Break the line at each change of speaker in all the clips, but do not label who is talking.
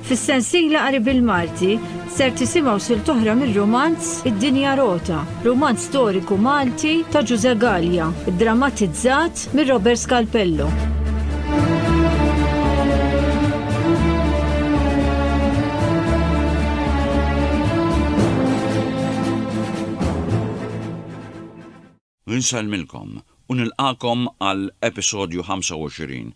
Fis-sensiela qari bil-Malti ser tisimgħu sil toħra mir-romanz Id-Dinja Rota, romanz storiku Malti ta' Ġuże Gallia, drammatizzat mir Robert Scalpello.
Insellmilkom u nilqagħkom għal episodju 25.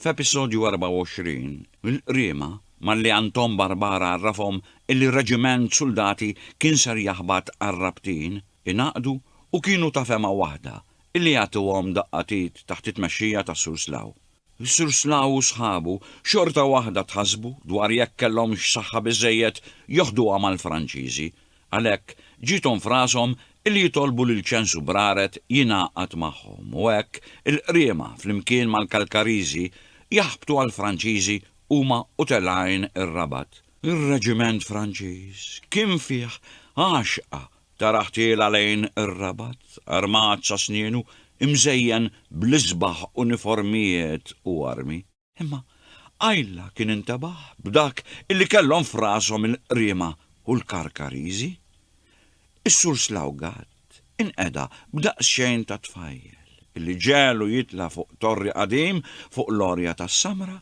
F'episodju 24, il-qriema, malli Anton Barbara għarrafhom illi reġiment suldati kien ser jaħbat għar-Rabtin, ingħaqdu u kienu ta' fehma waħda illi jagħtuhom daqqatit taħt it-tmexxija tas-Sur Slaw. Is-Sur Snow u sħabu xorta waħda tħassbu dwar jekk kellhomx saħħa biżżejjed joħduha mal-Franċiżi, għalhekk ġiethom f'rashom li jitolbu lil Ċensu Braret jingħaqad magħhom u hekk il-Qriema flimkien mal-Kalkariżi jaħbtu għall-Franċiżi huma u telgħin ir-Rabat. Ir-reġiment Franċiż kien fih għaxqa Tara ħtiela lejn ir-Rabat, armat sa snienu, imżejjen bl-isbaħ uniformijiet u armi. Imma Ayla kien intebaħ b'dak illi kellhom f'rashom il-Qriema u l-Karkariżi. Is-Sur Slawgat inqeda b'daqsxejn ta' tfajjel, illi ġegħlu jitla' fuq torri qadim fuq l-għorja tas-Samra,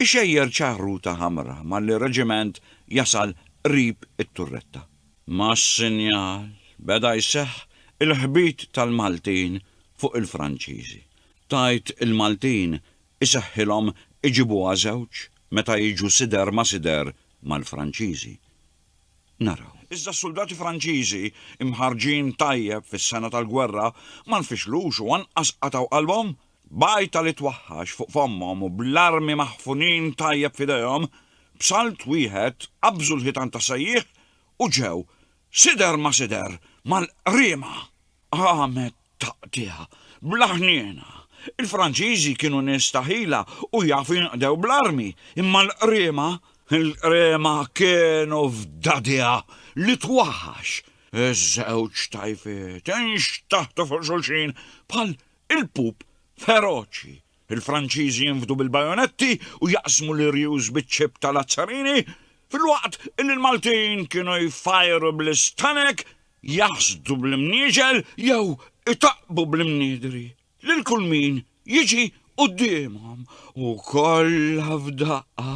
ixejjer ċaħruta ħamra malli reġiment jasal qrib it-turretta. Mas-sinjal beda jseħħ il-ħbit tal-Maltin fuq il-Franċiżi. Tgħid il-Maltin iseħħilhom iġibuha żewġ meta jiġu sider ma' sider mal-Franċiżi. Naraw. Iżda s-suldati Franċiżi, imħarrġin tajjeb fis-sena tal-gwerra, ma nfixlux u anqas qatgħu qalbhom B'għajta li twaħħax fuq fommhom u bl-armi maħfunin tajjeb f'idejhom, b'salt wieħed qabżu l-ħitan tas-sejjieħ u ġew, sider ma sider, mal-qriema! Qamet taqtigħa, bla ħniena. Il-Franċiżi kienu nies ta' ħila u jafu jinqdew bl-armi, imma l-qriema? Il-qriema kienu f'dagħdigħa li twaħħax. Iż-żewġ tajfiet inxtaħtu fuq xulxin bħal Il-pup feroċi, il-Franċiżi jinfdu bil-bajonetti u jaqsmu l-irjus biċ-ċip ta' Lazzarini, filwaqt li l-Maltin kienu jfajru bl-istanek, jaħsdu bl-imnieġel jew itaqqbu bl-imniedri lil kull min jiġi quddiemhom u kollha f'daqqa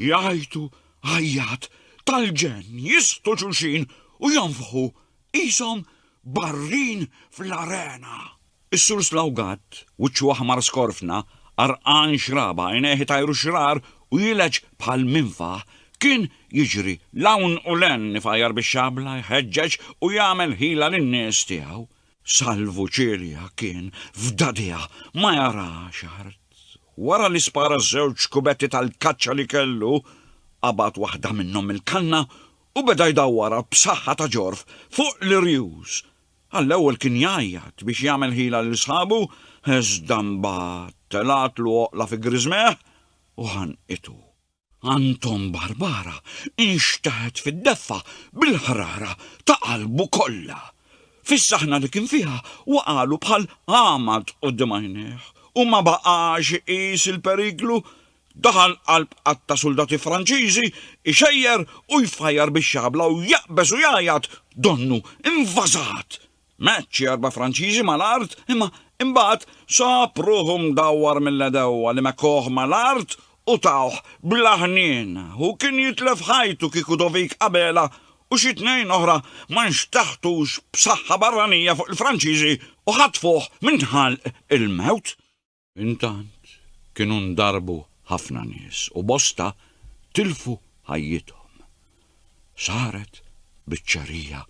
jgħajtu għajjat tal-ġenn, jistgħu xulxin u jonfħu Qishom barrin fl-arena. Is-Sur Slawgat, wiċċu aħmar skorfna, għarqan xraba, għajnejh itajru xrar u jilgħeġ bħal minfaħ, kien jiġri 'l hawn u 'l hemm ifgħajjar bix-xabla, jħeġġeġ u jagħmel ħila lin-nies tiegħu. Salvu Cilia kien f'dagħdigħa ma jarax art. Wara li spara ż-żewġ kubetti tal-kaċċa li kellu, qabad waħda minnhom mill-kanna u beda jdawwarha b'saħħa ta' ġorf fuq l-irjus. Għall-ewwel kien jgħajjat biex jagħmel ħila lil sħabu iżda mbagħad telgħatlu oqla fi griżmejh u ħanqitu. Anton Barbara nxteħet fid-deffa bil-ħrara ta' qalbu kollha. Fis-saħna li kien fiha waqagħlu bħal għamad quddiem għajnejh u ma baqax iqis il-periklu Daħal qalb għadd ta' suldati Franċiżi, ixejjer u jfajjar bix-xabla u jaqbeż u jgħajjat, Donnu, invażat! Meċċ xi erba' Franċiżi mal-art imma imbagħad sab ruħu mdawwar mill-għedewwa li mekkowh mal-art u tawh bla ħniena. Hu kien jitlef ħajtu kieku Dovic Abela u xi tnejn oħra ma nxteħtux b'saħħa barranija fuq il-Franċiżi u ħatfuh minn ħalq il-mewt. Intant kienu ndarbu ħafna nies u bosta tilfu ħajjithom. Saret biċċerija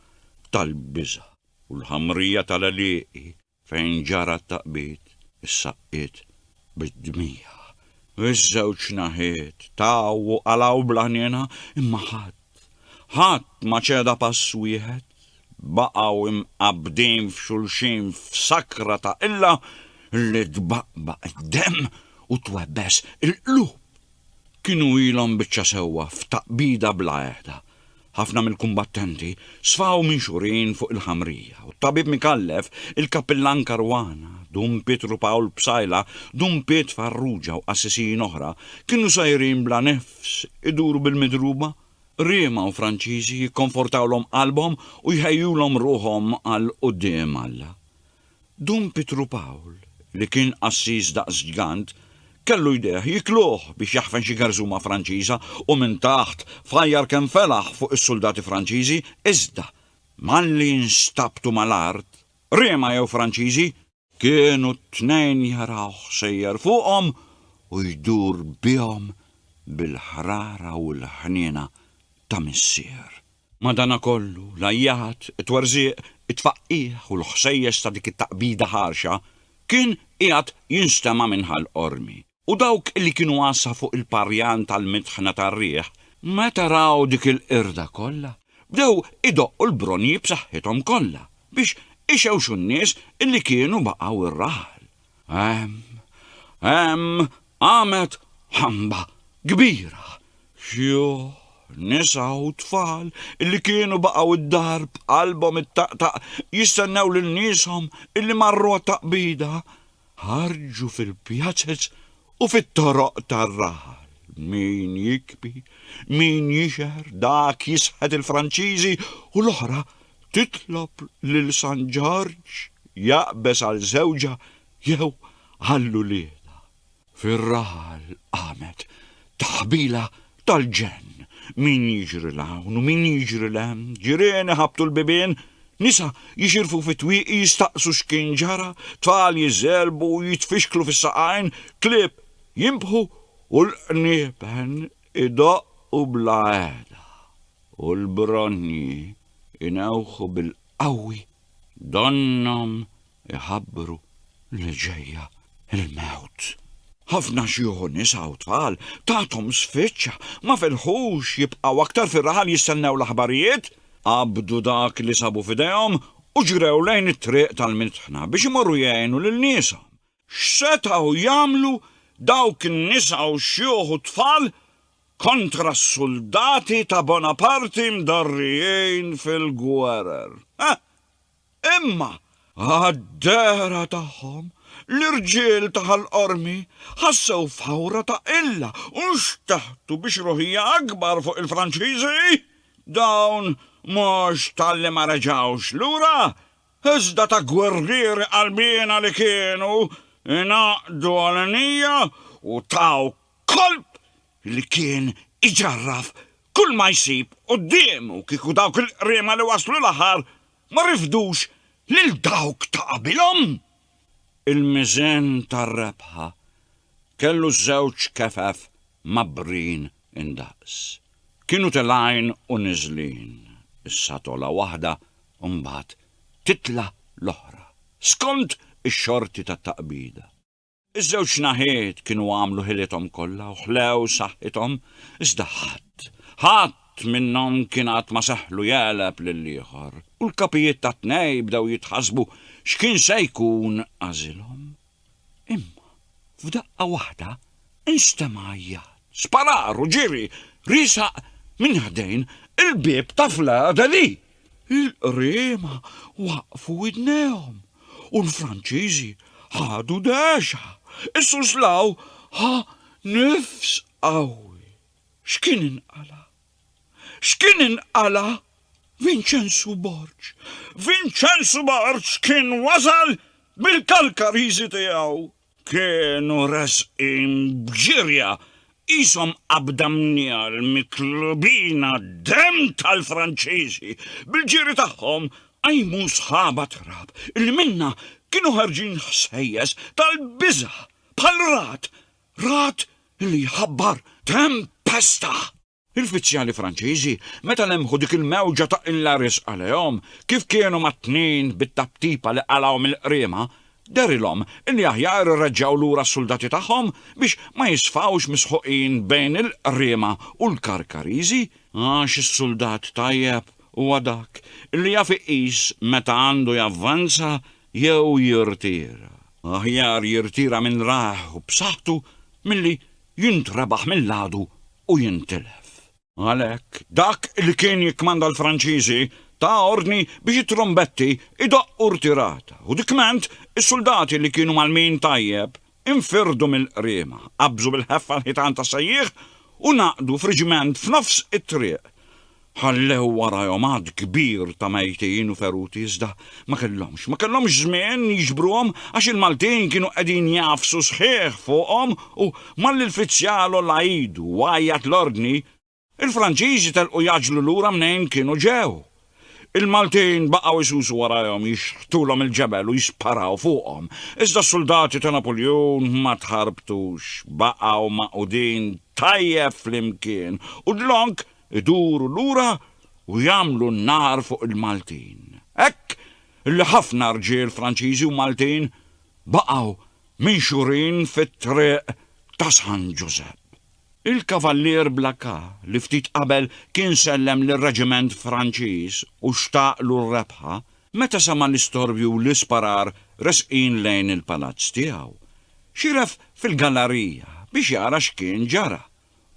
tal-biża' u l-ħamrija tal-għelieqi fejn ġara t-taqbid issaqqiet bid-dmigħ. Iż-żewġ naħiet taw u qalgħu bl-għajnejna imma ħadd Ħadd ma ċeda pass wieħed, baqgħu mqabbdin f'xulxin f'sakra ta' qilla li tbaqbaq id-demm u twebbes il-qlub. Kienu ilhom biċċa sewwa f'taqbida bla għehda. Ħafna mill-kumbattenti sfaw minxurin fuq il-ħamrija u t-tabib Micallef, il-kappillan Caruana, Dun Pietru Pawl Psaila, Dun Piet Farrugia u qassisin oħra kienu sajrin bla nifs Fs, iduru bil-midruba, Riema u Franċiżi jikkonfortawlhom qalbhom u jħejjulhom ruħhom għal quddiem Alla. Dun Pitru Pawl, li kien qassis daqs ġgant, kellu jdejh jikluh biex jaħfen xi garżuma Franċiża u minn taħt fajjar kemm felaħ fuq is-suldati Franċiżi iżda, malli nstabtu mal-art, Riema jew Franċiżi, Kienu t-tnejn jarawh sejjer fuqhom u jdur bihom bil-ħrara u l-ħniena ta' missier. Madanakollu, l-għajjat, it-twerżiq, it-tfaqqigħ u l-ħsejjes ta' dik it-taqbida ħarxa kien qiegħed jinstema' minn Ħal Qormi. U dawk li kienu għassa fuq il-parjan tal-mitħna tar-riħ, meta raw dik il-qirda kollha, bdew idoqqu l-bronji b'saħħithom kollha, biex ixewxu n-nies li kienu baqgħu r-raħal. Hemm, hemm qamet ħamba kbira! Xjuħ, nisa u tfal li kienu baqgħu d-dar b'qalbhom ittaqtaq jistennew lil nieshom li marru għat-taqbida, Ħarġu fil-pjazez u fit-toroq tar-raħal, min jikbi, min jixher, dak jisħet il-Franċiżi u l-oħra titlob lil San Ġorġ jaqbeż għal żewġha jew għall-uliedha. Fir-raħal qamet taħbila Tal-ġenn! Min jiġri 'l hawn u min jiġri 'l hemm, ġirien iħabbtu l-bibien, nisa jixirfu fit-twieqi jistaqsu x'kien ġara, tfal jiżerbu u jitfixklu fis-saqajn, klieb jinbħu u l-qniepen idoqqu bla għeda u l-bronji jnewħu bil-qawwi donnhom Iħabbru li ġejja l-mewt. Ħafna xjuħ u nisa u tfal tathom sfiċċa, ma felħux jibqgħu aktar fir-raħal jistennew l-aħbarijiet. Qabdu dak li sabu f'idejhom u ġrew lejn it-triq tal-mitħna biex imorru jgħinu lil nieshom. X'setgħu jagħmlu dawk in-nisa u xjuħ u tfal kontra s-suldati ta' Bonaparti mdarrijin fil-gwerer? Ħa! Imma għad-dehra tagħhom, l-irġiel ta' Ħal Qormi ħassew f'ħawra ta' qilla u nxteħtu bi xruħija akbar fuq il-Franċiżi. Dawn mhux talli ma reġgħux lura, iżda ta' gwerrieri qalbiena li kienu, ingħaqdu għal nija u taw Kolp li kien iġarraf kull ma jsib quddiemu kieku dawk il-qriema li waslu l-aħħar ma rifdux lil dawk ta' qabilhom. Il-miżen tar-rebħa kellu żewġ kefef mgħabbrin indaqs. Kienu telgħin u niżlin, issa togħla waħda u mbagħad titla' l-oħra, skont ix-xorti tat-taqbida. Iż-żewġ naħiet kienu għamlu ħilithom kollha u ħlew saħħithom, iżda ħadd, ħadd minnhom kien għad ma seħħlu jegħleb lill-ieħor, u l-kapijiet tat-tnejn bdew jitħassbu x'kien se jkun għażilhom. Imma, f'daqqa waħda, instema' għajjat, sparar u ġiri riesaq minn ħdejn il-bieb ta' Fleur de Lys! Il-qriema waqqfu widnejhom u l-Franċiżi ħadu dehxa. Is-Suslaw ħa nifs qawwi. X'kien inqala'? X'kien inqala'? Vinċenzu Borg! Vinċenzu Borg kien wasal bil-Kalkariżi tiegħu! Kienu resqin b'ġirja qishom qabda mniegħel miklubina demm tal-Franċiżi. Bil-ġiri tagħhom qajmu sħaba trab li minnha kienu ħarġin ħsejjes tal-biża' bħal ragħad, ragħad li jħabbar tempesta. L-uffiċjali Franċiżi, meta lemħu dik il-mewġa ta' qilla riżqa lejhom, kif kienu magħtnin bit-taptipa li qalgħuhom il-qriema, dehrilhom li aħjar irreġġgħu lura s-suldati tagħhom biex ma jisfgħux misħuqin bejn il-qriema u l-Karkariżi, għax is-suldat tajjeb huwa dak li jaf iqis meta għandu javvanza jew jirtira. Aħjar jirtira minn ragħ u b'saħħtu milli jintrebaħ mill-għadu u jintilef. Għalhekk, dak li kien jikkmanda l-Franċiżi ta ordni biex it-trumbetti jdoqqu rtirata u dikment is-suldati li kienu mgħallmin tajjeb infirdu mill-qriema, qabżu bil-ħeffa l-ħitan tas-sejjieħ u ngħaqdu f'riġiment f'nofs it-triq. Ħallew warajhom għadd kbir ta' mejtin u feruti iżda ma kellhomx, ma kellhomx żmien jiġbruhom għax il-Maltin kienu qegħdin jagħfsu sħiħ fuqhom u malli l-fizzjal għolla idu u għajjat l-ordni, il-Franċiżi telqu jgħaġġlu lura mnejn kienu ġew. Il-Maltin baqgħu jsusu warajhom jixħtulhom il-ġebel u jisparaw fuqhom, iżda s-suldati ta' Napuljun ma tħarbtux, baqgħu magħqudin tajjeb flimkien u dlonk iduru lura u jagħmlu n-nar fuq il-Maltin. Hekk li ħafna rġiel Franċiżi u Maltin baqgħu minxurin fit-triq ta' San Ġużepp. Il-Kavallier Blacà, li ftit qabel kien sellem lir-reġiment Franċiż u xtaqlu r-rebħa, meta sema' l-istorbju u l-isparar resqin lejn il-palazz tiegħu, xieref fil-gallarija biex jara x'kien ġara.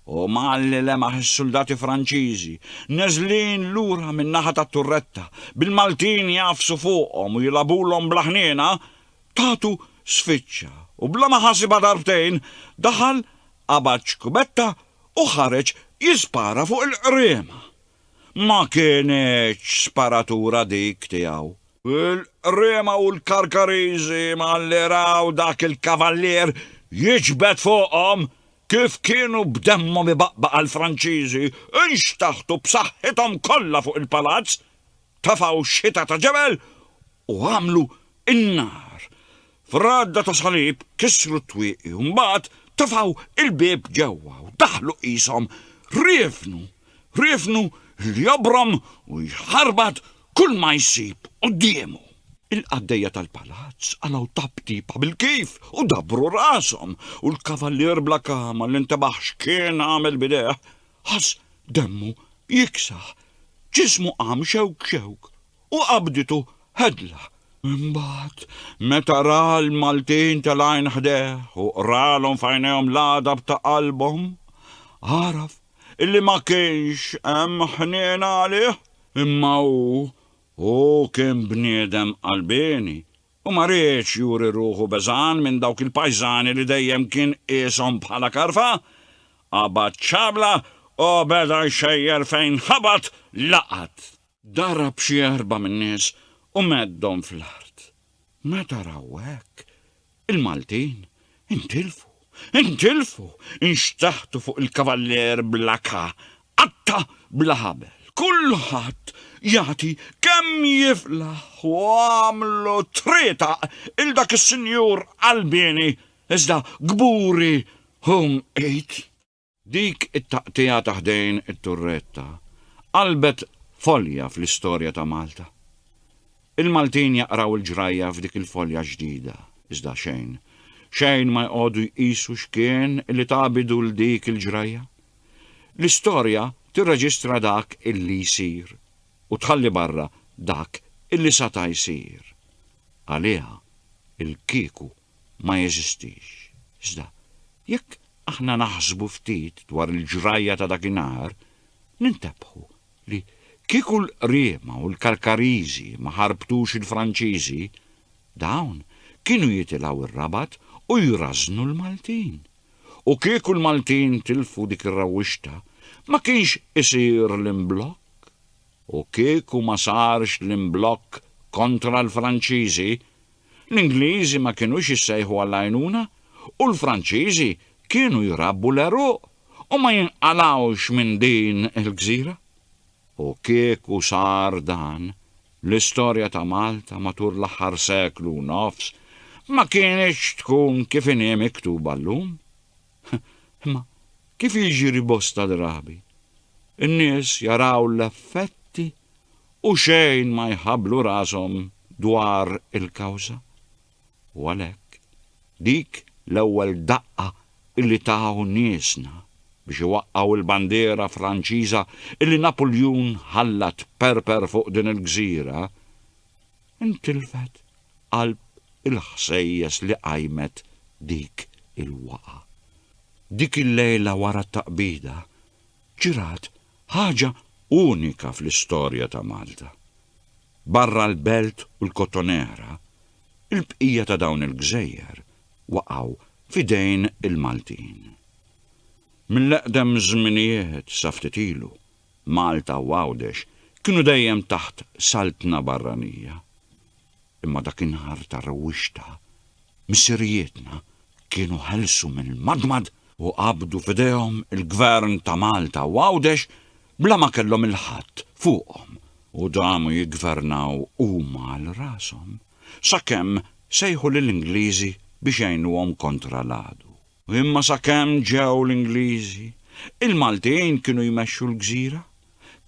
u mgħalli lemaħ is-suldati Franċiżi neżlin lura min-naħa tat-turretta bil-Maltin jgħafsu fuqhom u jilagħbulhom bl-aħniena, tatu sfiċċa u bla ma ħasibha darbtejn daħal qabad xkubetta u ħareġ jispara fuq il-Qriema. Ma kinitx sparatura dik tiegħu. Il-Qriema u l-Karkariżi mgħalli raw dak il-kavallier jiġbed fuqhom Kif kienu b'demmhom ibaqbaq għall-Franċiżi, inxtaħtu b'saħħithom kollha fuq il-palazz, tefgħu x-xita ta' ġebel u għamlu n-nar. F'għadda ta' salib kissru t-twieqi u mbagħad tefgħu l-bieb ġewwa u daħlu qishom riefnu, riefnu li jobrom u jħarbat kulma jsib quddiemu. Il-qaddejja tal-palazz qalgħu taptipa bil-kif u dabbru rashom, u l-kavallier bla kama li ntebaħ x'kien għamel b'idejh, ħass demmu jiksaħ, ġismu qam xewk xewk, u qabditu hedla. Imbagħad, meta ra l-Maltin telgħin ħdejh u qralhom f'għajnejhom l-għadab ta' qalbhom, għaraf illi ma kienx hemm ħniena għalih, imma hu, hu kien bniedem qalbieni u ma riedx juri ruħu beżgħan minn dawk il-pajżani li dejjem kien qieshom bħala karfa, qabad xabla u beda jxejjer fejn ħabat laqat. Darab xi erbgħa min-nies u meddhom fl-art. Meta raw hekk, il-Maltin intilfu, intilfu, inxtaħtu fuq il-Kavallier bla ka, qatta' bla ħabel. Kulħadd jagħti kemm jiflaħ u għamlu trietaq 'il dak is-sinjur qalbieni iżda kburi hu mqit. Dik it-taqtigħa ta' ħdejn it-turretta qalbet folja fl-istorja ta' Malta. Il-Maltin jaqraw il-ġrajja f'dik il-folja ġdida, iżda xejn, xejn ma jqogħdu jqisu x'kien li ta bidu 'l dik il-ġrajja. L-istorja tirreġistra dak illi jsir u tħalli barra dak illi sata jsir. Għaliha, il-kieku ma jeżistix. Iżda, jekk aħna naħsbu ftit dwar il-ġrajja ta' dakinhar, nintebħu li kieku l-qriema u l-Karkariżi ma ħarbtux il-Franċiżi, dawn kienu jitilgħu r-Rabat u jrażżnu l-Maltin. U kieku l-Maltin tilfu dik ir-rawwixta, ma kienx isir l-imblokk. U kieku ma sarx l-imblokk kontra l-Franċiżi, L-Ingliżi ma kinux jissejħu għall-għajnuna u l-Franċiżi kienu jrabbu l-għeruq u ma jinqalgħux minn din il-gżira. U kieku sar dan, l-istorja ta' Malta matul l-aħħar seklu u nofs ma kinitx tkun kif inhi miktuba llum. Imma kif jiġri bosta drabi, in-nies jaraw l-effetti u xejn ma jħabblu rashom dwar il-kawża. U għalhekk, dik l-ewwel daqqa illi taw niesna biex iwaqqgħu l-bandiera Franċiża illi Napuljun ħalla tperper fuq din il-gżira, intilfet qalb il-ħsejjes li qajmet dik il-waqgħa. Dik il-lejla wara t-taqbida ġrat ħaġa unika fl-istorja ta' Malta. Barra l-Belt u l-Kottonera, il-bqija ta' dawn il-gżejjer waqgħu f'idejn il-Maltin. Mill-eqdem żminijiet sa ftit ilu, Malta u Għawdex kienu dejjem taħt saltna barranija. Imma dak in-nhar ta' rewwixta, missirijietna kienu ħelsu mill-madmad u qabdu f'idejhom il-Gvern ta' Malta u Għawdex bla ma kellhom il-ħadd fuqhom u damu jiggvernaw huma għal rashom sakemm sejħu lill-Ingliżi biex jgħinuhom kontra l-għadu. Imma sakemm ġew l-Ingliżi, il-Maltin kienu jmexxu l-gżira,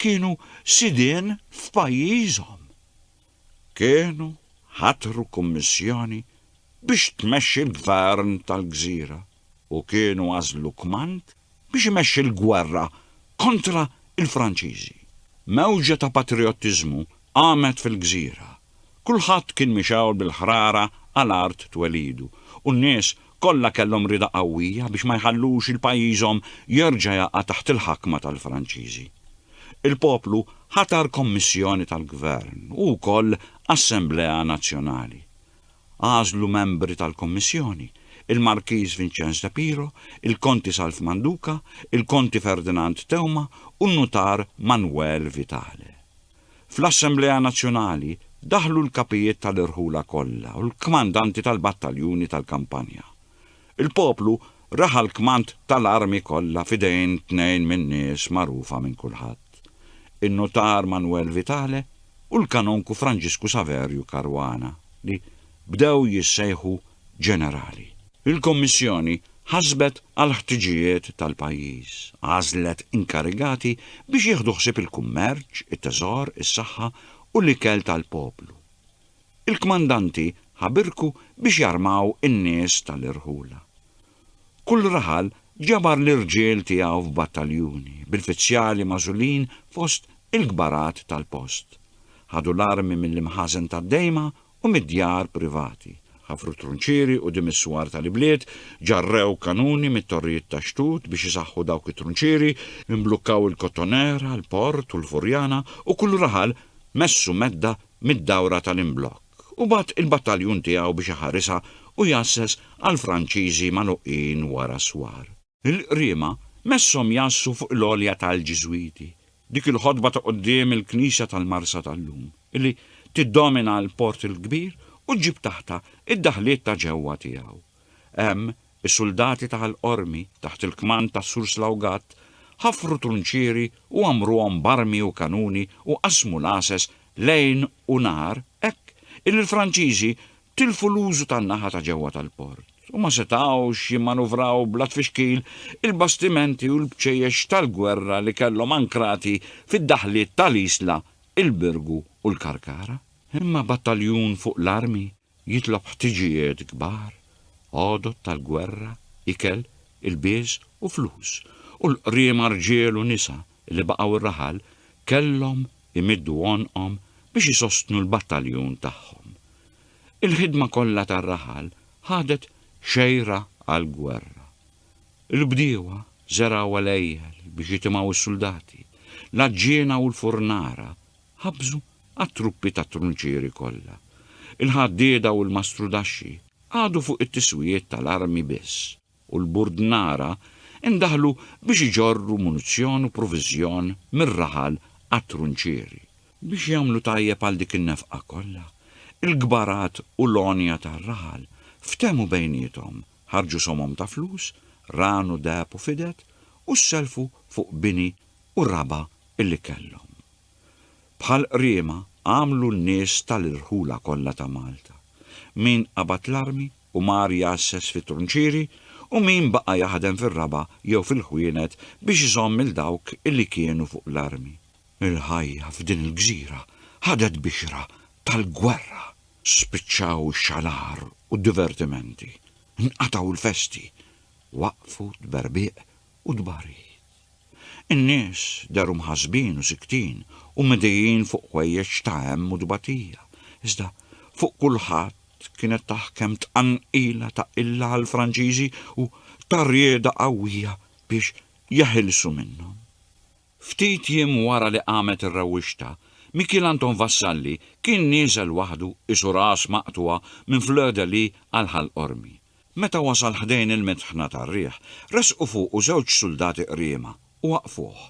kienu sidien f'pajjiżhom. Kienu ħatru kummissjoni biex tmexxi l-gvern tal-gżira u kienu għażlu kmand biex imexxi l-gwerra kontra l-Franċiżi. Mewġa ta' patrijottiżmu qamet fil-gżira Kulħadd kien mixgħul bil-ħrara għal art twelidu u n-nies kollha kellhom rieda qawwija biex ma jħallux il pajjiżhom jerġa' jaqa' taħt il-ħakma tal-Franċiżi. Il-poplu ħatar kommissjoni tal-gvern u wkoll assemblea nazzjonali. Għażlu membri tal-kommissjoni, il-Markiż Vinċenz de Piro, il-Konti Salv Manduca, il-Konti Ferdinand Theuma u n-Nutar Manwel Vitale. Fl-Assemblea Nazzjonali daħlu l-kapijiet tal-irħula kollha u l-kmandanti tal-battaljuni tal-kampanja. Il-poplu raha l-kmand tal-armi kollha f'idejn tnejn min-nies magħrufa minn kulħadd, in-nutar Manwel Vitale u l-kanonku Franġisku Saverju Caruana, li, bdew jissejħu ġenerali. Il-Kummissjoni ħasbet għall-ħtiġijiet tal-pajjiż, għażlet inkarigati biex jieħdu ħsieb il-kummerċ, it-teżor, is-saħħa u l-ikel tal-poplu. Il-kmandanti ħabirku biex jarmaw in-nies tal-irħula. Kull raħal ġabar l-irġiel tiegħu f'battaljuni, bil-fizzjali magħżulin fost il-kbarat tal-post. Ħadu l-armi mill-imħażen tad-dejma u mid-djar privati. Ħafru trunċieri quddiem is-swar tal-ibliet, ġarrew kanuni mit-torrijiet tax-xtut biex isaħħu dawk it-trunċieri, imblukkaw il-Kottonera, il-Port u l-Furjana u kull raħal messu medda mid-dawra tal-imblokk u bagħat il-battaljun tiegħu biex iħarisha u jgħasses għall-Franċiżi magħluqin wara s-swar. Il-Qriema messhom jgħassu fuq il-għolja tal-Ġiżwiti, dik il-ħodba ta' quddiem il-Knisja tal-Marsa tal-lum, li tiddomina l-Port il-Kbir u ġġib taħtha d-daħliet ta' ġewwa tiegħu. Hemm, is-suldati ta' Ħal Qormi, taħt il-kmand ta' Sur Slawgat, ħafru trunċieri u għammruhom b'armi u kanuni u qassmu l-għases lejl u nhar hekk illi l-Franċiżi tilfu l-użu tan-naħa ta' ġewwa tal-port u ma setgħux jimmanuvraw bla tfixkil il-bastimenti u l-bċejjex tal-gwerra li kellhom ankrati fid-daħliet tal-Isla, il-Birgu u l-Karkara. Imma battaljun fuq l-armi jitlob ħtiġijiet kbar, għodod tal-gwerra, ikel, ilbies u flus, u l-qriema rġiel u nisa li baqgħu r-raħal kellhom imiddu għonqhom biex isostnu l-battaljun tagħhom. Il-ħidma kollha tar-raħal ħadet xejra għall-gwerra. Il-bdiewa żergħu għelejjel biex jitimgħu s-suldati, l-għaġġiena u l-furnara ħabbżu għat-truppi tat-trunċieri kollha. Il-ħaddieda u l-mastrudaxxi qagħdu fuq it-tiswijiet tal-armi biss. u l-Burdnara ndaħlu biex iġorru munizzjon u proviżjon mir-raħal għat-trunċieri. Biex jagħmlu tajjeb għal dik in-nefqa kollha, il-kbarat u l-għonja tar-raħal ftehmu bejniethom, ħarġu somom ta' flus, ran u deheb u fidet, u ssellfu fuq bini u raba' li kellhom. Bħal qriema għamlu n-nies tal-irħula kollha ta' Malta, min qabad l-armi u mar jgħasses fit-trunċieri u min baqa' jaħdem fir-raba' jew fil-ħwienet biex iżomm 'il dawk li kienu fuq l-armi. Il-ħajja f'din il-gżira ħadet bixra tal-gwerra. Spiċċaw ix-xalar u d-divertimenti, inqatgħu l-festi, waqfu t-tberbieq u tbarid. In-nies dehru mħassbin u siktin u midijin fuq ħwejjeġ ta' hemm u tbatija, iżda fuq kulħadd kienet taħkem tqanqila ta' qilla għall-Franċiżi u ta' rieda qawwija biex jeħilsu minnhom. Ftit jiem wara li qamet ir-rewwixta, Mikiel Anton Vassalli kien nieżel waħdu qisu ras maqtugħa minn Fleur de Lys għal Ħal Qormi, Meta wasal ħdejn il-mitħna tar-riħ, resqu fuqu żewġ suldati qriema u waqqfuh.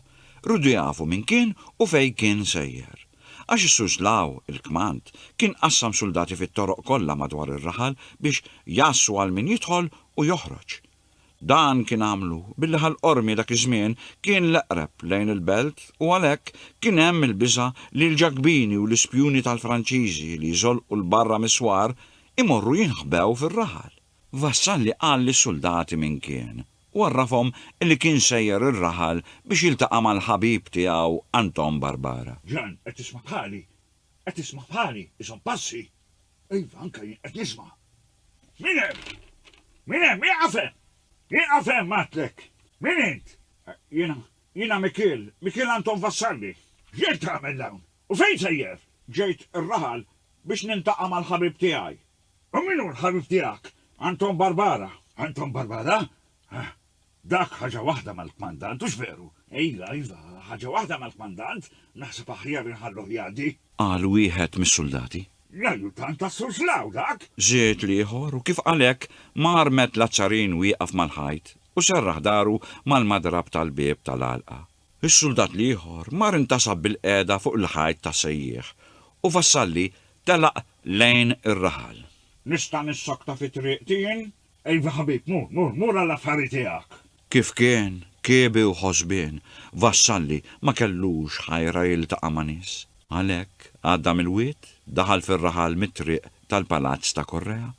Riedu jafu min kien u fejn kien sejjer. Għax is-Suslaw, il-kmand, kien qassam suldati fit-toroq kollha madwar ir-raħal biex jgħassu għal min jidħol u joħroġ. Dan kien għamlu billi Ħal Qormi dak iż-żmien kien l-eqreb lejn il-belt u għalhekk kien hemm il-biża' li l-Ġakbini u l-ispjuni tal-Franċiżi li jżolqu 'l barra mis-swar Imorru jinħbew fir-raħal. Vassalli qal lis-suldati min kien, u għarrafhom li kien sejjer ir-raħal biex jiltaqa' mal-ħabib tiegħu Anton Barbara. Ġan, qed tisma'
bħali? Qed tisma' bħali? Iżomm passi! Iva, anke jien qed nisma'. Min hemm? Min hemm? Ieqaf hemm! Ieqaf hemm għidtlek! Min int? Jiena, jiena Mikiel, Mikiel Anton Vassalli. X'ġejt tagħmel hawn? U fejn sejjer? Ġejt ir-raħal biex niltaqa' mal-ħabib tiegħi. U min hu l-ħabib tiegħek? Anton Barbara. Anton Barbara? Ah, dak ħaġa waħda mal-kmandant, hux veru? Iva, iva, ħaġa waħda mal-kmandant, naħseb aħjar inħalluh jgħaddi. Qal wieħed
mis-suldati. L-ajjutant
tas-Sur Slaw, dak? Żied l-ieħor,
u kif qal hekk, mar met l-aċċarin wieqaf mal-ħajt u serraħ dahru mal-madrab tal-bieb tal-għalqa. Is-suldat l-ieħor mar intasab bilqiegħda fuq il-ħajt ta' Sejjieħ u Vassalli telaq lejn ir-raħal. Nista' nissokta
fi triqti jien? Iva ħabib, mur, mur, mur għall-affari tiegħek! Kif kien
kiebi u ħosbien, Vassalli ma kellux ħajra jiltaqa' ma' nies. Għalhekk għadda mill-wied, daħal fir-raħal mit-triq tal-palazz ta' Correa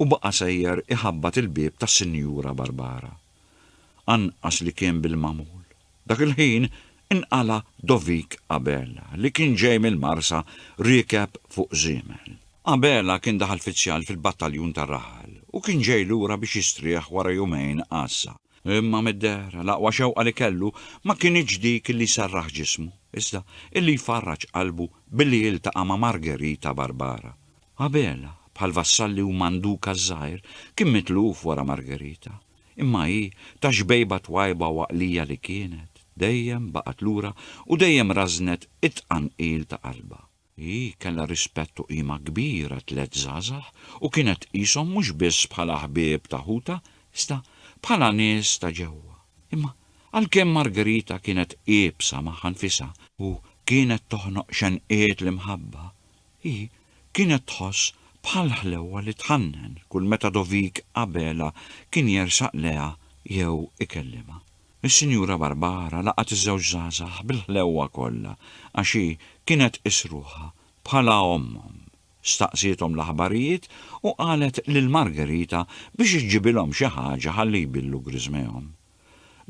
u baqa' sejjer iħabbat il-bieb tas-Sinjura Barbara. anqas li kien bil-magħmul. Dak il-ħin inqala' Dovik Abela, li kien ġej mill-Marsa riekeb fuq żiemel. Abela kien daħal fizzjal fil-battaljun tar-raħal u kien ġej lura biex jistrieħ wara jumejn għassa. Imma mid-dehra, l-aqwa xewqa li kellu ma kinitx dik li jserraħ ġismu, iżda illi jfarraġ qalbu billi jiltaqa' ma' Margherita Barbara, Abel, bħal vassalli u mandukas żgħir, kien mitluf wara Margherita. Imma hi, ta' xbejba twajba u għaqlija li kienet, dejjem baqgħet lura u dejjem rażżnet it-tqanqil ta' qalbha. Hi kellha rispett u qima kbir għat-tliet żgħażagħ u kienet tqishom mhux biss bħala ħbieb ta' ħutha iżda bħala nies ta' ġewwa. Imma għalkemm Margherita kienet iebsa magħha nfisha u kienet toħnoq xenqiet l-imħabba, Hi kienet tħoss bħal ħlewwa li tħannen kull meta Dovik Abela kien jersaq leha jew ikellimha. Is-Sinjura Barbara laqgħet iż-żewġ żgħażagħ bil-ħlewwa kollha għax hi kienet tqis ruħha bħala ommhom. Staqsiethom l-aħbarijiet u qalet lil Margherita biex iġġibilhom xi ħaġa ħalli jbillu griżmehom.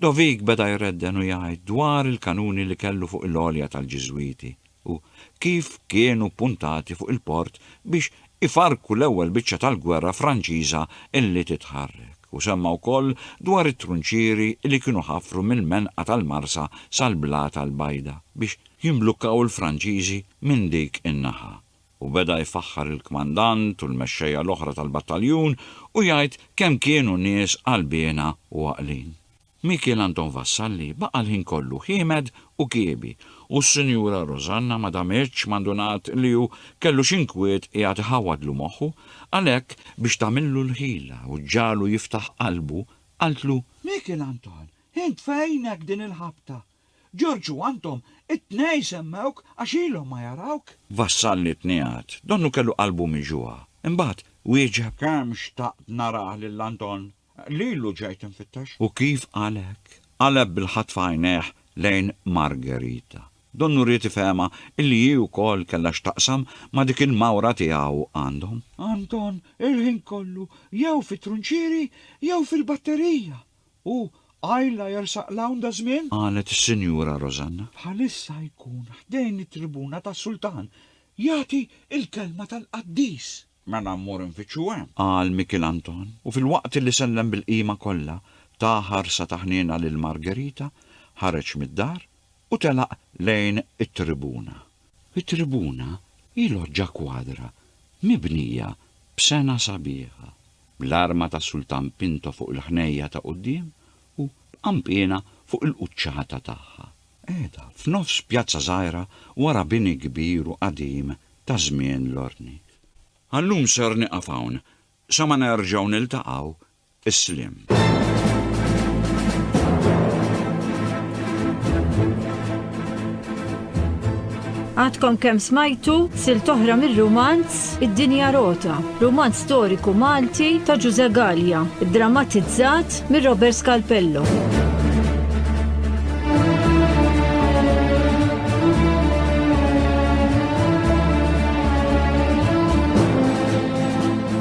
Dovic beda jredden u jgħid dwar il-kanuni li kellu fuq il-għolja tal-Ġiżwiti u kif kienu ppuntati fuq il-port biex ifarrku l-ewwel biċċa tal-gwerra Franċiża li titħarrek u semma wkoll dwar it-trunċieri li kienu ħafru mill-menqa tal-Marsa sal-Blata l-Bajda biex jimblukkaw il-Franċiżi minn dik in-naħa u beda jfaħħar il-kmandant u l-mexxejja l-oħra tal-battaljun u jgħid kemm kienu nies qalbiena u għaqlin. Mikiel Anton Vassalli baqa' l-ħin kollu ħiemed u kiebi u s-Sinjura Rosanna ma damitx ma ndunat li hu kellu xi nkwiet qiegħed iħawwadlu moħħu, għalhekk biex tagħmillu l-ħila u ġġagħlu jiftaħ qalbu, qaltlu, Mikiel Anton,
int fejnek din il-ħabta? Ġorġ u Anton, it-tnej semmewk għax ilhom ma jarawk. Vassalli tniegħed.
Donnu kellu qalbu miġugħa. Imbagħad wieġeb. Kemm xtaqt
narah lil Anton. Lilu ġejt infittex. U kif qalek?
Qaleb bil-ħatfa għajnejh lejn Margherita. Donnu ried ifehemha illi hi wkoll kellha x'taqsam ma' dik il-mawra tiegħu għandhom. Anton,
il-ħin kollu jew fit-trunċieri jew fil-batterija. U Alla jersaq l-hawn daż-żmien? Qalet is-Sinjura
Rosanna. Bħalissa jkun
ħdejn it-tribuna tas-Sultan, jagħti l-kelma tal-qaddis. Mela mmur
infittxu hemm. Qal Mikiel Anton,
u filwaqt li sellem bil-qima kollha, ta ħarsa ta' ħniena lil Margherita, ħareġ mid-dar u telaq lejn it-tribuna. It-tribuna hi loġġa kwadra mibnija b'sengħa sabiħa, bl-arma ta' Sultan Pinto fuq il-ħnejja ta' quddiem u b'qanpiena fuq il-quċċata tagħha. Qiegħda f'nofs pjazza żgħira wara bini kbir u qadim ta' żmien l-ordni. Għal-lum ser nieqaf hawn, sa ma nerġgħu niltaqgħu Isliem.
Għadkom kem smajtu sil toħra mir-rumanz Id-Dinja Rota, rumanz storiku Malti ta' Ġuże Gallia, drammatizzat mir Robert Scalpello.